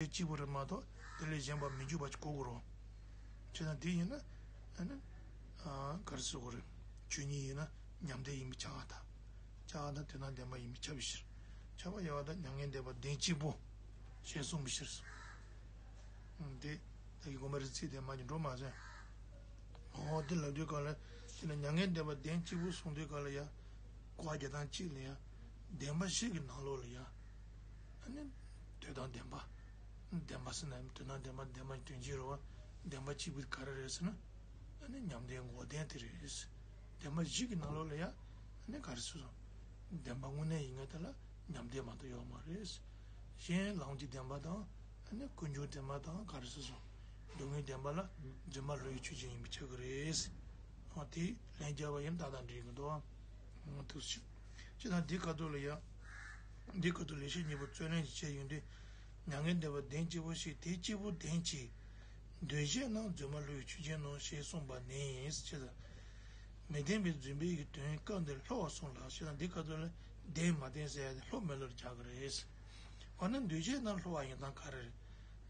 དེ་གཅིག་པུ་རེད་མ་གཏོགས་དེ་ལས་གཞན་པ་མི་འཇུག་པ་གོ་དགོས་རོགས། ཁྱེད་རང་དེ་ཡིན་ན། ག་རེ་བཟོ་དགོས་རེད། ཆོས་ཉིད་ཡིན་ན་ཉམས་དེ་ཡིན་པས་བྱ་བ་དག། བྱ་བ་དག་དེ་དང་ལྡན་པ་ཡིན་པས་བྱ་བའི་ཕྱིར། བྱ་བ་ཡལ་བ་དག་མྱ་ངན་འདས་པ་བདེན་གཅིག་པུ། ཞེས་གསུངས་པའི་ཕྱིར། དེ་བདག་གི་དགོངས་པ་རེད་ཚིག་དེ་མ་ཉིད་འགྲོ་མ་ཟད། འོ་དེ་ལབ་དུས་སྐབས་ལ་ཡིན་ན་མྱ་ངན་འདས་པ་བདེན་གཅིག་པུ་གསུངས་དུས་སྐབས་ལ་ཡང། དགོངས་པ་བརྒྱ་དང་གཅིག་ལ་ཡང། བདེན་པ་གཤིས་ཀྱི་ནང་ལོགས་ལ་ཡང། ནི། འདོད་དང་ལྡན་པ། ལྡན་པ་ཟེར་ན་འདོད་དང་ལྡན་པ་ལྡན་པ་སྐྱོན་ཅན་རེད་བ། ལྡན་པ་གཅིག་པུ་ག་རེ་རེད་ཟེར་ན། ནི་ཉམས་ལྡན་མགོ་ལྡན་དེ་རེད། ལྡན་པ་བཞི་གི་ནང་ལོགས་ལ་ཡང་ནི་ག་རེ་ཟེར་སོང། ལྡན་པ་དངོས་གནས་ཡིན་ངེས་དེ་ལ་ཉམས་ལྡན་མ་གཏོགས་ཡོད་མ་རེད། གཞན་ལམ་གྱི་ལྡན་པ་དང། ནི་དཀོན་མཆོག་ལྡན་པ་དང་ག་རེ་ཟེར་སོང། སྡུག་བསྔལ་ལྡན་པ་ལ་རྫུན་མ་ལོས་ཡོད་ཆོས་ཅན་ཡིན་པའི་ཆ་གི་རེད། ཨོ་དེ་ལན་བརྒྱ་བ་ཡིན་ད་ལྟ་འདྲི་གི་འདུག། ཐུགས་རྗེ་ཆེ། ཅི་དང་དེ་ག་དུས་ལ་ཡང། འདི་ཀོ་ཏོ་ལས་བྱེད་གཉིས་པོ་བརྩོན་ལེན་གྱིས་བྱས་ཡོད་འདི། མྱ་ངན་འདས་པ་གདེང་སྐྱེས་པོ་ཞིག་དེ་སྐྱེས་བུ་གདེང་གྱིས། འདོད་བྱས་སྣང་རྫུན་མ་ལྷོའི་ཆུ་ཆེན་ནོ་ཞེས་གསུངས་པ་ནས་ཅི་ལ། མི་བདེན་པའི་རྫུན་སྦས་ཀྱི་དོན་སྐབས་འདིར་ལྷོ་བ་གསུངས་ལགས་ཞེས་ན་འདི་ཀ་ཏོ་ལས་གདེང་མ་བརྟེན་ཟེར་ཡ་དེ་ལྷོ་མི་ལྷོར་རྒྱག་གི་རེད། འོ་ན་འདོད་བྱས་སྣང་ལྷོ་བ་ཡིན་དང་ག་རེ་རེད།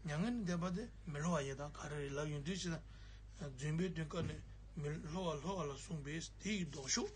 མྱ་ངན་འདས་པ་དེ་མི་ལྷོ་བ་ཡིན་དང་ག་རེ་རེད་ལབ་ཡོད་འདོད་བྱས་སྣང་རྫུན་སྦས་དོན་སྐབས་ནས་མི་ལྷོ་བ་ལྷོ་བ་ལ་གསུངས་པས་དེ་ཡི་ལྡོག་ཕྱོགས།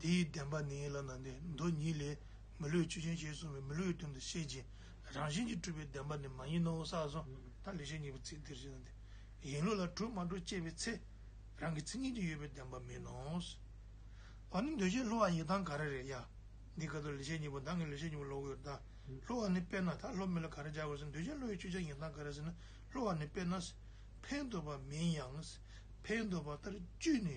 དེའི་བདེན་པ་ནི་ལ་ནཱ་དའི་མདོ་ཉིད་ལས། མི་ལུས་ཆོས་ཅན་ཞེས་གསུངས་པའི་མི་ལུས་ཀྱི་དོན་དུ་བཤད་ཅིང་རང་བཞིན་གྱིས་གྲུབ་པའི་བདེན་པ་ནི་མ་ཡིན་ནོ་ས་སོ། ད་ལེ་ཞེས་ཉེ་བའི་ཚིག་འདིར་བཞེད་ན་དེ་ཡིན་ལུགས་ལ་གྲུབ་མ་གྲུབ་དཔྱད་པའི་ཚེ། རང་གི་ཚིག་ངན་གྱིས་ཡོད་པའི་བདེན་པ་མིན་ནོ། བ་ནི་འདོད་བྱའི་ལྷོ་བ་ཡི་དྭགས་ག་རེ་རེད་ཡ། འདི་ཀ་ད་ལེ་ཞེས་ཉེ་བ་དང་གི་ལེ་ཞེས་ཉེ་བ་ལོག་ཡོད་ད། ལྷོ་བ་ནི་དཔེར་ན་ད་ལྷོ་མི་ལ་ག་རེ་སྦྱར་བ་ཟིན་འདོད་བྱའི་ལྷོ་ཡི་ཆོས་ཅན་ཡི་དྭགས་ག་རེ་ཟིན་ན་ལྷོ་བ་ནི་དཔེར་ན། ཕའི་འདོད་པ་མིན་ཡང། ཕའི་འདོད་པ་ལྟར་བཅུད་ནི།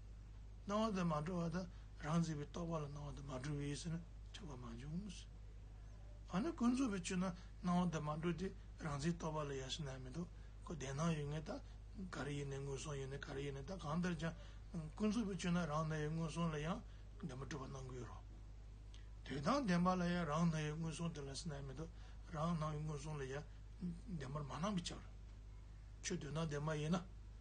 སྣང་བ་དེ་མ་གྲོལ་བ་དང་རང་རྩིས་པའི་རྟོག་པ་ལ་སྣང་བ་དེ་མ་གྲོལ་བའི་ཡུལ་ཟེར་ན་ཆགས་པ་མ་འབྱུང། འོ་ན་ཀུན་རྫོབ་པའི་ཆོས་ན་སྣང་བ་དེ་མ་གྲོལ་ཏེ་རང་རྩིས་རྟོག་པ་ལ་ཡ་ཞེ་ན་མི་འདུག་གོ་བདེན་སྣང་ཡོད་ངེས་ད་ག་རེ་ཡིན་ནས་སྔོན་སོང་ཡོད་ནས་ག་རེ་ཡིན་ནས་ད་གང་ལྟར་ཀྱང་ཀུན་རྫོབ་པའི་ཆོས་ན་རང་སྣང་ཡོད་སྔོན་སོང་ལ་ཡང་བདེན་པ་གྲུབ་པ་སྣང་གི་རོ། དུས་དང་བདེན་པ་ལ་ཡང་རང་སྣང་ཡོད་སྔོན་སོང་དེ་ལ་ཟེར་ན་མི་འདུག་རང་སྣང་ཡོད་སྔོན་སོང་ལ་ཡང་བདེན་པར་མ་སྣང་གི་ཆ་རེད། ཆོས་དུས་ན་བདེན་པ་ཡིན་ན།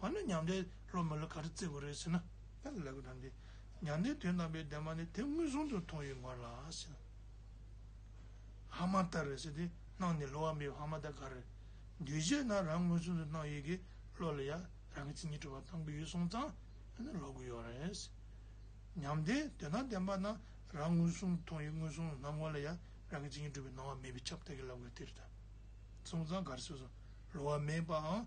འོ་ན་མྱང་འདས་སློབ་མ་ལ་ག་རེ་བརྩི་བ་རེད་ཟེར་ན། ལ་ལས་ཀྱི་དང་གི། མྱང་འདས་དོན་དམ་པའི་བདེན་པ་ནི་དེ་མངོན་སུམ་དུ་མཐོང་ཡོད་མོད་ལ་ཟེར། ཧ་མ་ཏར་རེད་ཟེར་ཏེ་སྣང་ནས་ལོག་མེད་པའི་ཧ་མ་ཏར་ག་རེ། འདུས་བྱས་རྣམས་རང་མངོན་སུམ་དུ་སྣང་ཡོད་ཀྱི་བློ་ལ་ཡང་རང་གི་མཚན་ཉིད་གྲུབ་པར་བཏང་གི་ཡོད་གསུངས་ཙང་འོ་ན་ལོག་གི་ཡོད་རེད། མྱང་འདས་དོན་དམ་བདེན་པ་རྣམས་རང་མངོན་སུམ་དུ་མཐོང་ཡོད་མངོན་སུམ་སྣང་ངོ་ལ་ཡང་རང་གི་མཚན་ཉིད་གྲུབ་པའི་སྣང་བ་མེད་པའི་ཁྱབ་བདག་གི་བསླབ་དགོས་དེ་རེད། གསུངས་ཙང་ག་རེ་ཟེར་སོང། ལོག་མེད་པའང་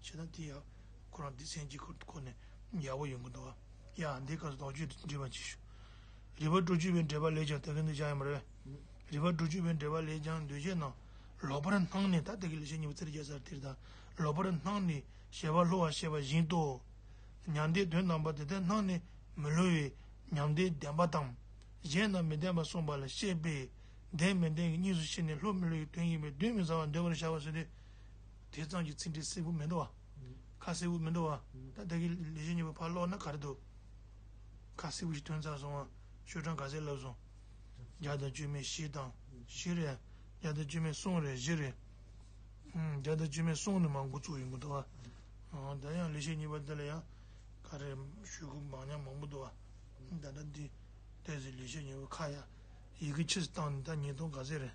བྱས་ན་དེ་ཡང་ཁོ་རང་སྡེ་ཚན་གཅིག་གི་སྐོར་ནས་ཡག་པོ་ཡོང་གི་འདུག་ཡ་འདི་སྐབས་སུ་དོགས་གཅོད་འདྲི་བར་གྱིས། རི་བ་ཀྲོ་ཅུས་པའི་འགྲེལ་པ་ལས་ཀྱང་དེ་སྐད་འདོད་ཆགས་ཡོད་མ་རེད། རི་བ་ཀྲོ་ཅུས་པའི་འགྲེལ་པ་ལས་ཀྱང་འདོད་ཆགས་ན་ལོག་པར་སྣང་ནས་ད་ལྟ་གི་ལེགས་བཤད་གཉིས་པ་རྩེར་རྒྱ་ཚར་དེར་དང་ལོག་པར་སྣང་ནས་ཞལ་བ་ལྷོ་བར་བཤད་པ་བཞིན་ཏོ། མྱང་འདས་དོན་དམ་པ་དེ་ལྟར་སྣང་ནས་མི་སླུ་བའི་མྱང་འདས་བདེན་པ་དང། གཞན་རྣམས་མི་བདེན་པར་གསུངས་པ་ལ་བཤད་པས་བདེན་མི་བདེན་གྱི་གཉིས་སུ་ཕྱེ་ནས་ལྷུ་མི་ལྷུ་ཡི་དོན་ཡིན་པས་གདོན་མི་ཟ་བར་འདོད་པར་བྱ་བ་བཟོས་ཏེ། དེས་གཙང་གི་ཚིག་འདི་སེར་བུ་མི་འགྲོ་བ། ཁ་སེར་བུ་མི་འགྲོ་བ། ད་ལྟ་གི་ལས་བྱེད་གཉིས་པོ་ཕར་ལོག་ན་ག་རེ་འདུག། ཁ་སེར་བུ་ཞིག་ཐོན་ཚར་སོང་ང་ཤོད་གྲངས་ག་ཚད་ལབ་སོང། བརྒྱ་དང་བཅུ་མེད་བཞི་དང་བཞི་རེད། བརྒྱ་དང་བཅུ་མེད་གསུམ་རེད་བཞི་རེད། བརྒྱ་དང་བཅུ་མེད་གསུམ་ནི་མང་དགུ་བཙུགས་ཡོང་གི་འདུག་ཨ། ད་ཡང་ལས་བྱེད་གཉིས་པ་འདི་ལ་ཡང་ག་རེ་ཞུས་ཁུ་འབངས་ཉག་མང་པོ་འདུག་ཨ། ད་ལྟ་འདི་ལྟས་ཟིག་ལས་བྱེད་གཉིས་པོ་ཁ་ཡག་ཡི་གི་ཕྱིར་བཏང་ནི་ད་ཉིས་སྟོང་ག་ཚད་རེད།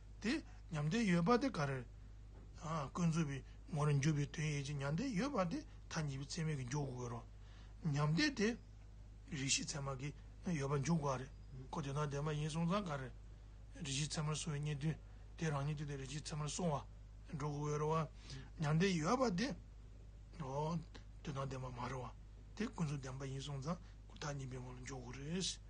དེ་ཉམས་དེ་ཡོད་པ་དེ་ག་རེ། ཀུན་རྫོབ་པའི་ངོ་ལ་འཇུག་པའི་དོན་ཡིད་ཀྱི་ཉམས་དེ་ཡོད་པ་དེ་མཐའ་གཉིས་པའི་ཚད་མས་འཇུག་དགོས་རོ། ཉམས་དེ་དེ། རིག་བྱེད་ཚད་མ་གི་ཡོད་པ་འཇུག་དགོས་རེད་ཀོ་དེ་དང་དེ་མ་ཡིན་གསུང་ཙང་ག་རེ། རིག་བྱེད་ཚད་མར་སོང་བའི་རྙེད་དོན་དེ་རང་ཉིད་དུ་དེ་རིག་བྱེད་ཚད་མར་སོང་བ་འགྲོ་དགོས་རེད་བ། ཉམས་དེ་ཡོད་པ་དེ། འོ། དེ་དང་དེ་མ་མ་རེད་བ། དེ་ཀུན་རྫོབ་བདེན་པ་ཡིན་གསུང་ཙང་ཀུན་མཐའ་གཉིས་པའི་ངོ་ལ་འཇུག་དགོས་རེད།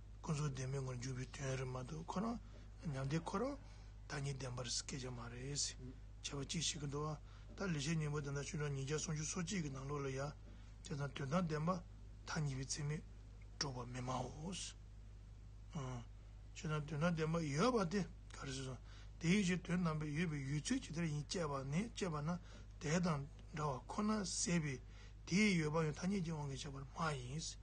ཁོ་ཚོ་བདེན་མེད་ངོར་འཇུག་པའི་དོན་རེད་མ་གཏོགས་ཁོ་རང་ཉམས་དེ་ཁོ་རང་བདག་ཉིད་བདེན་པར་སྐྱེལ་ཆ་མ་རེད། བྱས་པ་ཅིག་བྱེད་ཀྱི་འདུག་ཨ་ད་ལས་བྱེད་སྙིང་པོ་དེ་འདྲ་ཆུ་གྲང་ཉིས་བརྒྱ་སུམ་ཅུ་སོ་གཅིག་གི་ནང་ལོགས་ལ་ཡ་བྱས་ཙང་དོན་དང་ལྡན་པ་ཐ་སྙད་པའི་ཚིག་མི་སྒྲོག་པ་མི་སྨྲའོ། བྱས་ཙང་དོན་དང་ལྡན་པ་ཡོད་པ་དེ་ག་རེ་བྱས་སོང་དེ་ཡིན་ཞེས་དོན་རྣམ་པས་ཡོད་པའི་ཡུལ་ཚུལ་ཇི་ལྟར་ཡིན་དཔྱད་པ་ནི་དཔྱད་པ་ན་དེ་དང་འདྲ་བ་ཁོ་ན་ཟད་པས་དེའི་ཡོད་པའང་ཐ་སྙད་ཀྱིས་དབང་གིས་བྱས་པར་སྨྲ་ཡིན།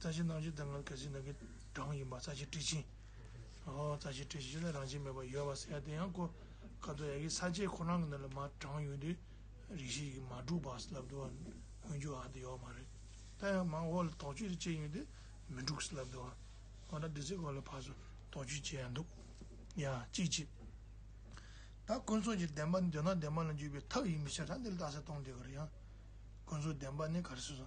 རྩ་ཆེན་སྣང་བྱེད་དེ་ལྔ་གལ་སྲིད་ནང་གི་གྲངས་ཡིན་པ་རྩ་ཆེན་སྤྲིས་ཆེན། ཧོ། རྩ་ཆེན་སྤྲིས་ཆེན་ལས་རང་བྱེད་མེད་པར་ཡོད་པར་ཟེར་ཡ་དེ་ཡང་ཀོ་ཀ་དོ་ཡ་ཀི་ས་བཅད་ཁོ་རང་གི་ནང་ལ་མ་དྲངས་ཡོད་དུས་རིགས་བཞི་ཡི་གེ་མ་གྲུབ་པ་སླབ་དུ་བ་འོན་རྒྱུ་ཨ་དེ་ཡོག་མ་རེད་ད་ཡང་མང་བོ་ལ་དོགས་གཅོད་དེ་བྱས་ཡོད་དུས་མི་འགྲུག་སླབ་དུ་བ་ང་རང་དེ་ཚོའི་སྐོར་ལ་ཕར་སུ་དོགས་གཅོད་བྱས་ཡ་འདུག་ཡ་ཅི་བྱེད། ད་ཀུན་རྫོབ་ཀྱི་བདེན་པ་འདོད་ན་བདེན་པ་ལ་འཇུག་པའི་ཐབས་ཡིན་མི་ཆ་ད་འདི་ལ་ལྟ་ས་སྟོང་འདི་ག་རེ་ཡང་ཀུན་རྫོབ་བདེན་པ་ནི་ག་རེ་སོ་སོ